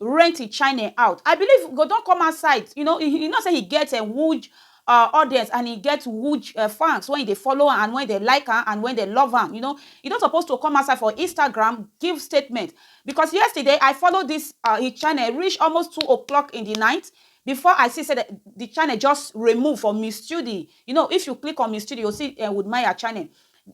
rent he chine out i believe he go don come outside you know he he know say he get a huge uh, audience and he get huge uh, fans when he dey follow am and when they like am and when they love am you know he don suppose to come outside for instagram give statement because yesterday i follow this uh, his channel reach almost two o'clock in the night before i see say the, the channel just remove from his studio you know if you click on his studio you see uh, with maya channel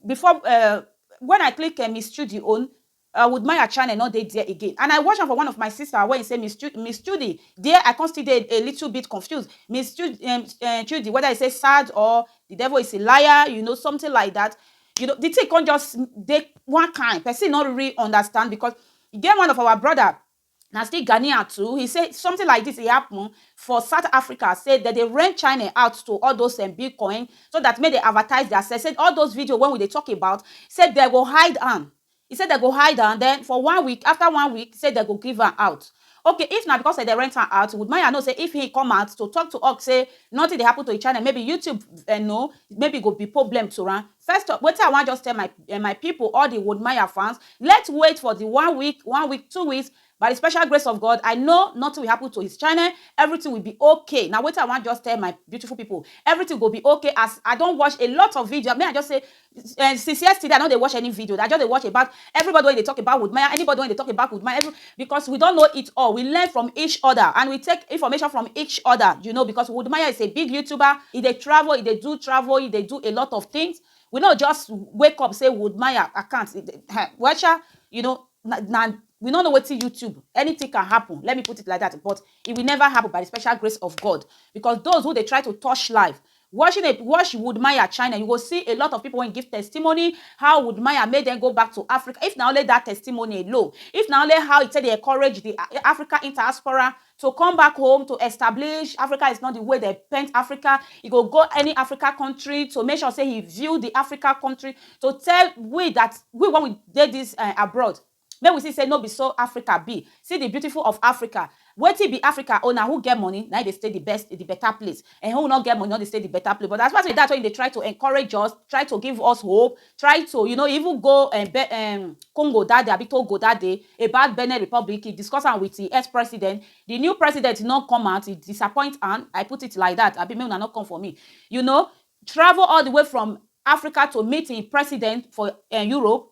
before uh, when i click uh, his studio own I would maya channel no dey there again and I watch am for one of my sister wey say miss chudi miss chudi there I come still dey a little bit confused miss chudi um um chudi whether e say sad or the devil is a liar you know something like that you know the thing come just dey one kind person no really understand because e get one of our brother Na still Ghanaian too, he say something like this dey happen for South Africa say dem dey rent chine out to all those um bitcoin so that make dem advertise their sell say all those video wey we dey talk about say dem go hide am he say dem go hide am then for one week after one week say dem go give am out okay if na because dem dey rent am out would maya know say if he come out to talk to us say nothing dey happen to him channel maybe YouTube um know maybe e go be problem to am First of wetin I wan just tell my um my pipu all the Wholdmaya fans let wait for the one week one week two weeks by the special grace of God I know nothing will happen to his channel everything will be ok na wetin I wan just tell my beautiful pipu everything go be ok as I don watch a lot of video make I just say um since yesterday I no dey watch any video I just dey watch about everybody wey dey talk about Wholdmaya anybody wey dey talk about Wholdmaya every Because we don know it all, we learn from each other and we take information from each other you know because Woodmaya is a big youtuber, he dey travel, he dey do travel, he dey do a lot of things, we no just wake up say Woodmaya account um well sha you know na na we no know wetin YouTube anything can happen let me put it like that but it will never happen by the special grace of God because those who dey try to touch life Watching a watch Woodmaya China, you go see a lot of people wey give testimony how Woodmaya make dem go back to Africa. If na only that testimony alone, if na only how he take dey encourage the Africa interdiaspora to come back home to establish Africa is not the way dem paint Africa, he go go any Africa country to make sure say he view the Africa country to tell we that we when we dey this abroad, Make we see say no be so Africa be, see the beautiful of Africa, Wetin be Africa own na who get money na him dey stay the best the better place um who no get money no dey stay the better place but as far as that wey you dey try to encourage us, try to give us hope, try to you know even go um be um Congo that day abi Togo that day about Benin Republic he discuss am with the ex president, the new president no come out he disappoint am I put it like that abi make una no come for me you know travel all the way from Africa to meet him president for um Europe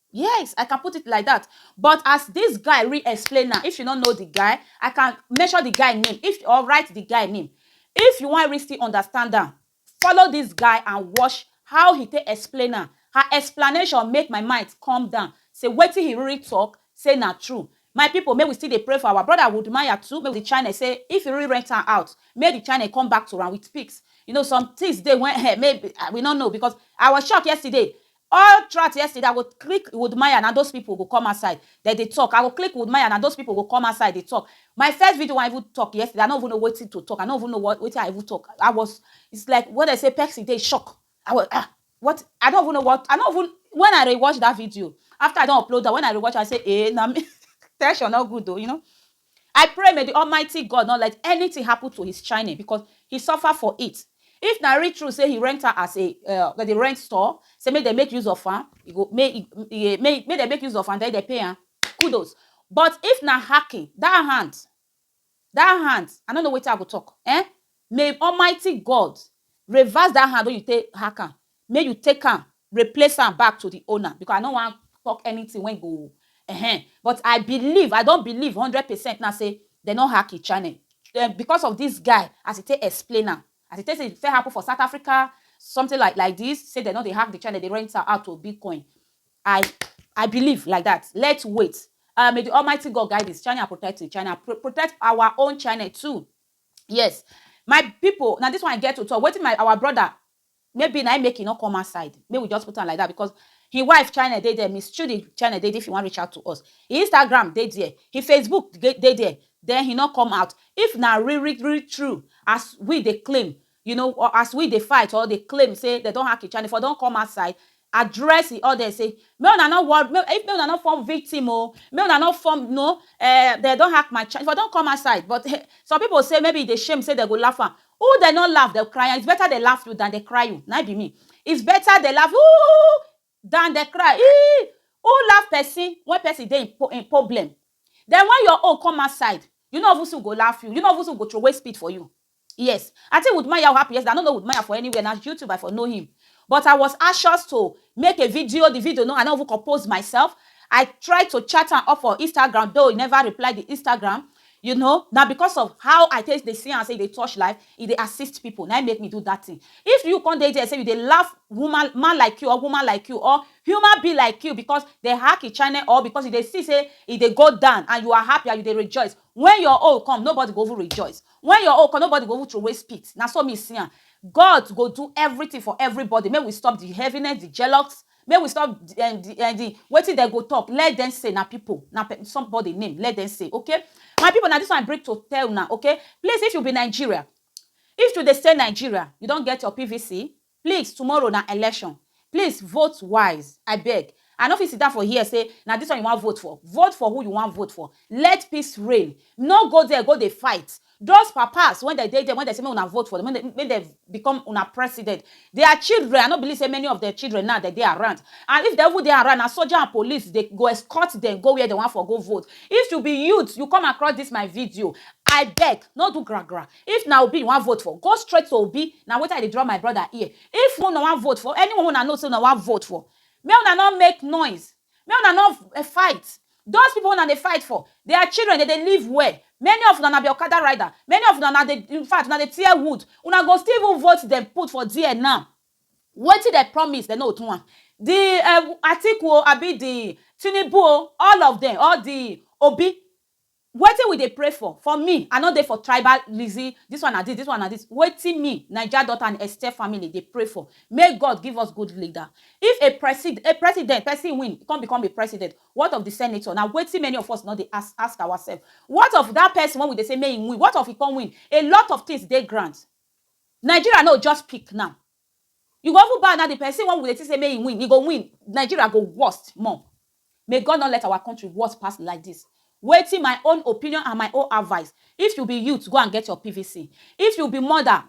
Yes I can put it like that but as this guy re explain now if you no know the guy I can mention the guy name if or write the guy name if you wan really still understand am follow this guy and watch how he take explain am her explanation make my mind come down say wetin he really talk say na true my people make we still dey pray for our brother Woodmaya too make the channel say if he really rent am out make the channel come back to am with pics you know some things dey when eh maybe we no know because I was shocked yesterday All throughout yesterday I go click woodmaya na those people go come outside dem dey talk I go click woodmaya na those people go come outside dey talk my first video wey I even talk yesterday I no even know wetin to talk I no even know what wetin I even talk I was it's like when dem say person dey shock I was ah what I no even know what I no even when I rewatch that video after I don upload am when I rewatch am I say eh na me tension no good o you know I pray may the almighty God not let anything happen to his chine because he suffer for it. If na real true say he rent her as a uh, that they rent store, say make they make use of her, you go make e- e- make make they make use of her, then they pay her. Kudos. But if na hacking, that hand, that hand, I don't know what I go talk. Eh? May almighty God reverse that hand wey you take hack am, make you take am replace am back to the owner because I no wan talk anything wey go ehen but I believe, I don believe hundred percent now say dem no hack him channel um because of this guy as he take explain am, as he take say e first happen for South Africa something like like this say dem no dey hack the channel dey rent am out to Bitcoin I I believe like that let's wait um may the almighty God guide his channel and protect his channel and protect our own channel too. Yes my pipu na dis one I get to talk wetin my our brother maybe na im make e no come outside make we just put am like dat because him wife channel dey there Miss Chudi channel dey there if you wan reach out to us him Instagram dey there him Facebook dey there then he no come out if na really really true as we dey claim You know, or as we dey fight or dey claim say dem don hack im channel, e for don come outside address im audience say make una no worry, make if make una no form victim o, make una no form no um dem don hack my channel, e for don come outside but um some people say maybe e dey shame say dem go laugh am, who dem no laugh dem cry am, it's better dem laugh you than dem cry you, na im be me, it's better dem laugh you, ooh Dan dey cry eeii Who laugh person when person dey in problem Then when your own come outside You no even see who go laugh you You no even see who go throway spit for you Yes I think Wood Maya happy yesterday I no know Wood Maya for anywhere Na YouTube I for know him But I was anxious to make a video The video no I no even compose myself I try to chat am up for Instagram though he never reply the Instagram You know, na because of how I take dey see am say e dey touch life, e dey assist people, na im make me do that thing. If you come dey there say you dey laugh woman, man like you or woman like you or human being like you because dem hack im channel or because you dey see say e dey go down and you are happy and you dey rejoice, when your own come, nobody go even rejoice. When your own come, nobody go even throwaway spit. Na so me see am. God go do everything for everybody. Make we stop the heaviness, the jealous, Make we stop um the um the wetin dem go talk let them say na people na pe somebody name let them say okay my people na this one I bring to tell una okay please if you be Nigeria if you dey stay Nigeria you don get your PVC please tomorrow na election please vote wise I beg I no fit sit down for here say na this one you wan vote for vote for who you wan vote for let peace reign no go there go dey fight Those papas wen dem dey there wen dem say make una vote for dem make dem become una president their children I no believe say many of dem children now dem dey around and if dem even dey around na soldier and police dey go escort dem go where dem wan for go vote if you be youth you come across this my video I beg no do gra gra if na Obi you wan vote for go straight to Obi na wetin I dey draw my brother ear if una wan vote for anyone wey una know say una wan vote for make una no make noise Make una no eh, fight. Those people una dey fight for, their children dey dey live well. Many of una na be Okada rider. Many of una na dey, in fact, una dey tear wood. Una go still even vote dem put for there now. Wetin dem promise, dem no go do am. The eh, Atiku o, abi the Tinubu o, all of dem, all the Obi, Wetin we dey pray for? For me, I no dey for tribal lizzy, this one na this, this one na this. Wetin me, Naija daughter and Esther family dey pray for, make God give us good leader. If a presid, a president, person win, come become a president, what of the senator? Na wetin many of us no dey ask, ask ourselves. What of that person wey we dey say make him win, what of he come win? A lot of things dey ground. Nigeria no just peak now. E go even bad now the person wey we dey think say make e win e go win Nigeria go worst more may God not let our country worst pass like this wetin my own opinion and my own advice if you be youth go and get your PVC if you be mother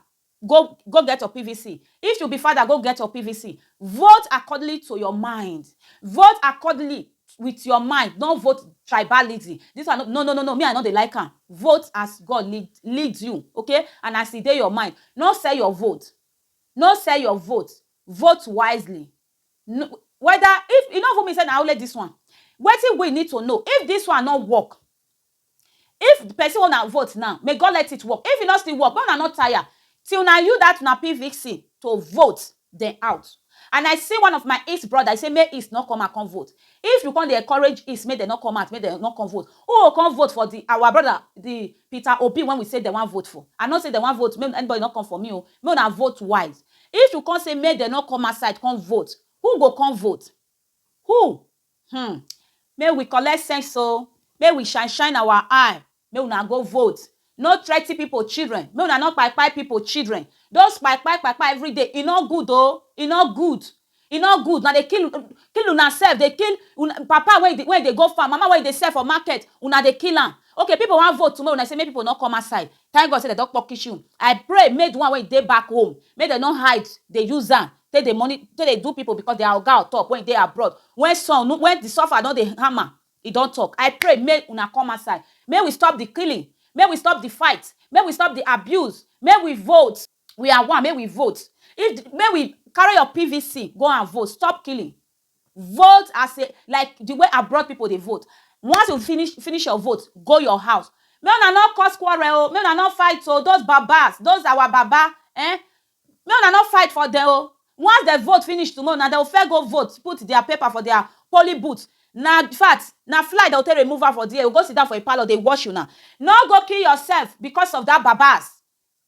go go get your PVC if you be father go get your PVC vote accordingly to your mind vote accordingly with your mind no vote tribalism this one no no no no me i no dey like am vote as god lead lead you okay and as e dey your mind no sell your vote no sell your vote vote wisely no whether if e no even mean say na only this one wetin we need to know if this one no work If the person wey una vote now, may God let it work, if e no still work, make una no tire till na you that una pvc to vote dem out and I see one of my East brother, he say make East no come out come vote, if you come dey encourage East make dem no come out, make dem no come vote, who go come vote for the our brother the Peter Obi wey we say dem wan vote for, I no say dem wan vote, make anybody no come for me o, make una vote wise, if you come say make dem no come outside come vote, who go come vote? Who? Hmmm make we collect sense o make we shine shine our eye make una go vote no threaten people children make una no kpai kpai people children those kpai kpai kpai kpai everyday e no good o e no good e no good una dey kill kill una self dey kill una papa wey e dey go farm mama wey e dey sell for market una dey kill am okay people wan vote tomorrow una say make people no come outside thank God say dem don kpokish you I pray make the one wey e dey back home make dem no hide dey use am take dey moni take dey do pipu because dia oga on top wey e dey abroad wen sun no wen di suffer don dey hammer e don tok I pray make una come outside make we stop di killing make we stop di fight make we stop di abuse make we vote we are one make we vote if di make we carry your PVC go and vote stop killing vote as a like di way abroad pipu dey vote once you finish finish your vote go your house make una no cause quarrel o make una no fight o those babas those our baba um Make una no fight for dem o, once dem vote finish tomorrow na dem go first go vote put dia paper for dia polling booth, na fact, na fly dem go take remove am for dia, e go go sit down for im parlour dey watch una. No go kill yourself because of dat babas,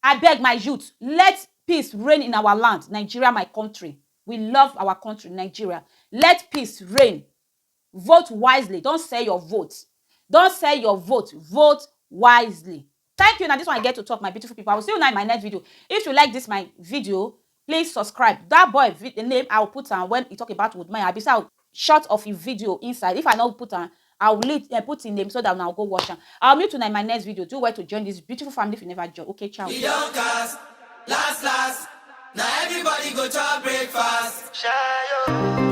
abeg my youth let peace reign in our land Nigeria my country, we love our country Nigeria, let peace reign, vote wisely, don't sell your vote, don't sell your vote, vote wisely. Thank you na this one I get to talk my beautiful people I will see una in my next video if you like this my video please subscribe that boy the name I will put am when he talk about woodmaya abi say I will short of him video inside if I no put am I will leave uh, put him name so that una go watch am I will meet una in my next video do well to join this beautiful family if you never join okay ciao. We don cast, last last. Now everybody go chop breakfast. Shayo.